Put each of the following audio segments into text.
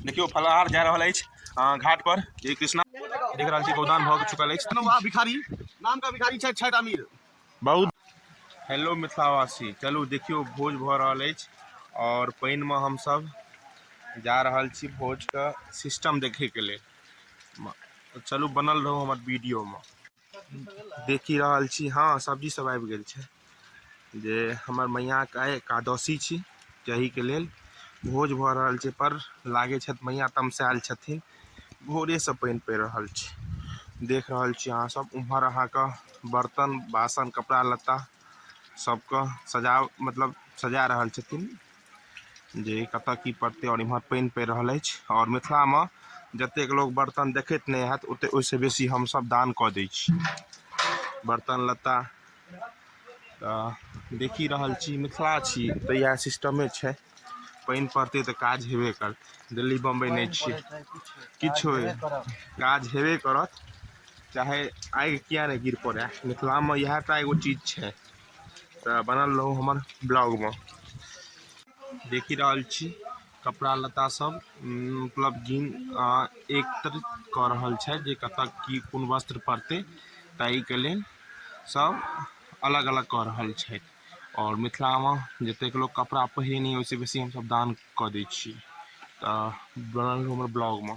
देखियौ फलाहार जा रहल अछि घाट पर जय कृष्णा देख रहल छी गोदान भऽ चुकल अछि वाह भिखारी नाम का भिखारी छथि छठि अमीर बहुत हेलो मिथिलावासी चलू देखियौ भोज भऽ रहल अछि आओर पानिमे हमसभ जा रहल छी भोजके सिस्टम देखैके लेल चलू बनल रहू हमर वीडियोमे देखि रहल छी हँ सब्जी सब आबि गेल छै जे हमर मैयाके आइ एकादशी छी ताहिके लेल भोज भऽ रहल छै पर लागै छथि मैया तमसायल छथिन भोरेसँ पानि पड़ि रहल छै देख रहल छी अहाँ सब उम्हर अहाँके बर्तन बासन कपड़ा लत्ता सबके सजा मतलब सजा रहल छथिन जे कतऽ की पड़तै आओर इमहर पानि पड़ि रहल अछि आओर मिथिलामे जतेक लोक बर्तन देखैत नहि हैत ओते ओहिसँ बेसी हमसभ दान कऽ दै छी बर्तन लत्ता तऽ देखि रहल छी मिथिला छी तऽ इएह सिस्टमे छै पानि पड़तै तऽ काज हेबे करतै दिल्ली बम्बइ नहि छियै किछु होय काज हेबे करत चाहे आगि किए नहि गिर पड़ए मिथिलामे इएह टा एगो चीज छै तऽ बनल रहू हमर ब्लॉगमे देखि रहल छी कपड़ा लत्ता सब मतलब गिन एकत्र कऽ रहल छथि जे कतऽ की कोन वस्त्र पड़तै ताहिके लेल सब अलग अलग कऽ रहल छथि आओर मिथिलामे जतेक लोक कपड़ा पहिरै नहि ओहिसँ बेसी हमसब दान कऽ दै छी तऽ बनल रहू हमर ब्लॉगमे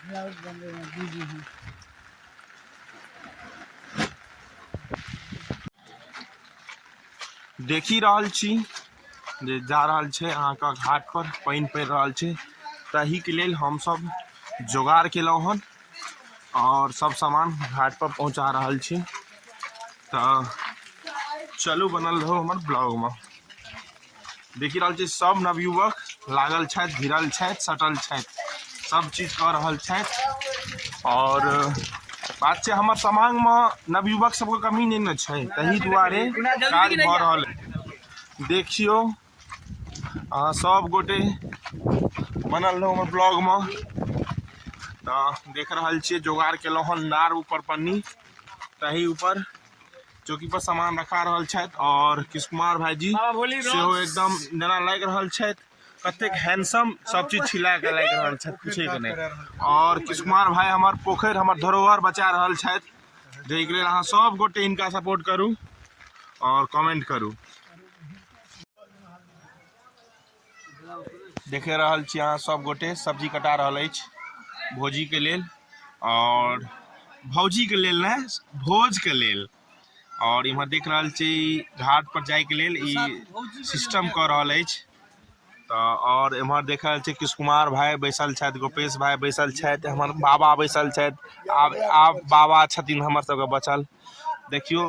ब्लाउज बनबैमे बिजी हूँ देखि रहल छी जे जा रहल छै अहाँके घाटपर पानि पड़ि रहल छै ताहिके लेल हमसभ जोगाड़ केलहुँ हन आओर सभ सामान घाटपर पहुँचा रहल छी तऽ चलू बनल रहू हमर ब्लॉगमे देखि रहल छी सब नवयुवक लागल छथि भिड़ल छथि सटल छथि सब चीज कऽ रहल छथि आओर बात छै हमर समाजमे नवयुवक सबके कमी नहि ने छै तहि दुआरे काज भऽ रहल अछि। देखियौ अहाँ सब गोटे बनल रहू हमर ब्लॉगमे तऽ देख रहल छियै जोगाड़ केलहुँ हन नार ऊपर पन्नी तही ऊपर चौकी पर सामान रखा रहल छथि और किश कुमार भाईजी सेहो एकदम जेना लागि रहल छथि कतेक हैंडसम सब चीज छिला के लागि रहल छथि पूछे के नहि और किश कुमार भाई हमर पोखरि हमर धरोहर बचा रहल छथि जाहिके के लेल अहाँ सब गोटे इनका सपोर्ट करू और कमेंट करू देखे रहल छी अहाँ सब गोटे सब्जी कटा रहल अछि भोजी के लेल और भौजी के लेल ने भोज के लेल और इम्हर देख रहल छी घाट पर जाय के लेल ई सिस्टम कर रहल अछि तो और इम्हर देख रहल छी कृष्ण कुमार भाई बैसल छथि गोपेश भाई बैसल छथि हमर बाबा बैसल छथि आब आब बाबा छथिन हमर सबके बचल देखियो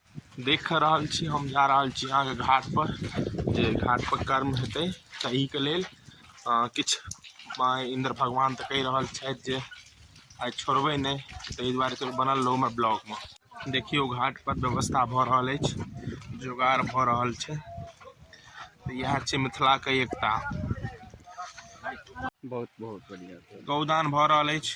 देख रहल छी हम जा रहल छी अहाँके घाटपर जे घाटपर कर्म हेतै तहिके लेल किछु इन्द्र भगवान तऽ कहि रहल छथि जे आइ छोड़बै नहि ताहि दुआरे चलू बनल रहू हमर ब्लॉगमे देखियौ घाटपर व्यवस्था भऽ रहल अछि जोगाड़ भऽ रहल छै तऽ इएह छै मिथिलाके एकता बहुत बहुत बढ़िआँ गौदान भऽ रहल अछि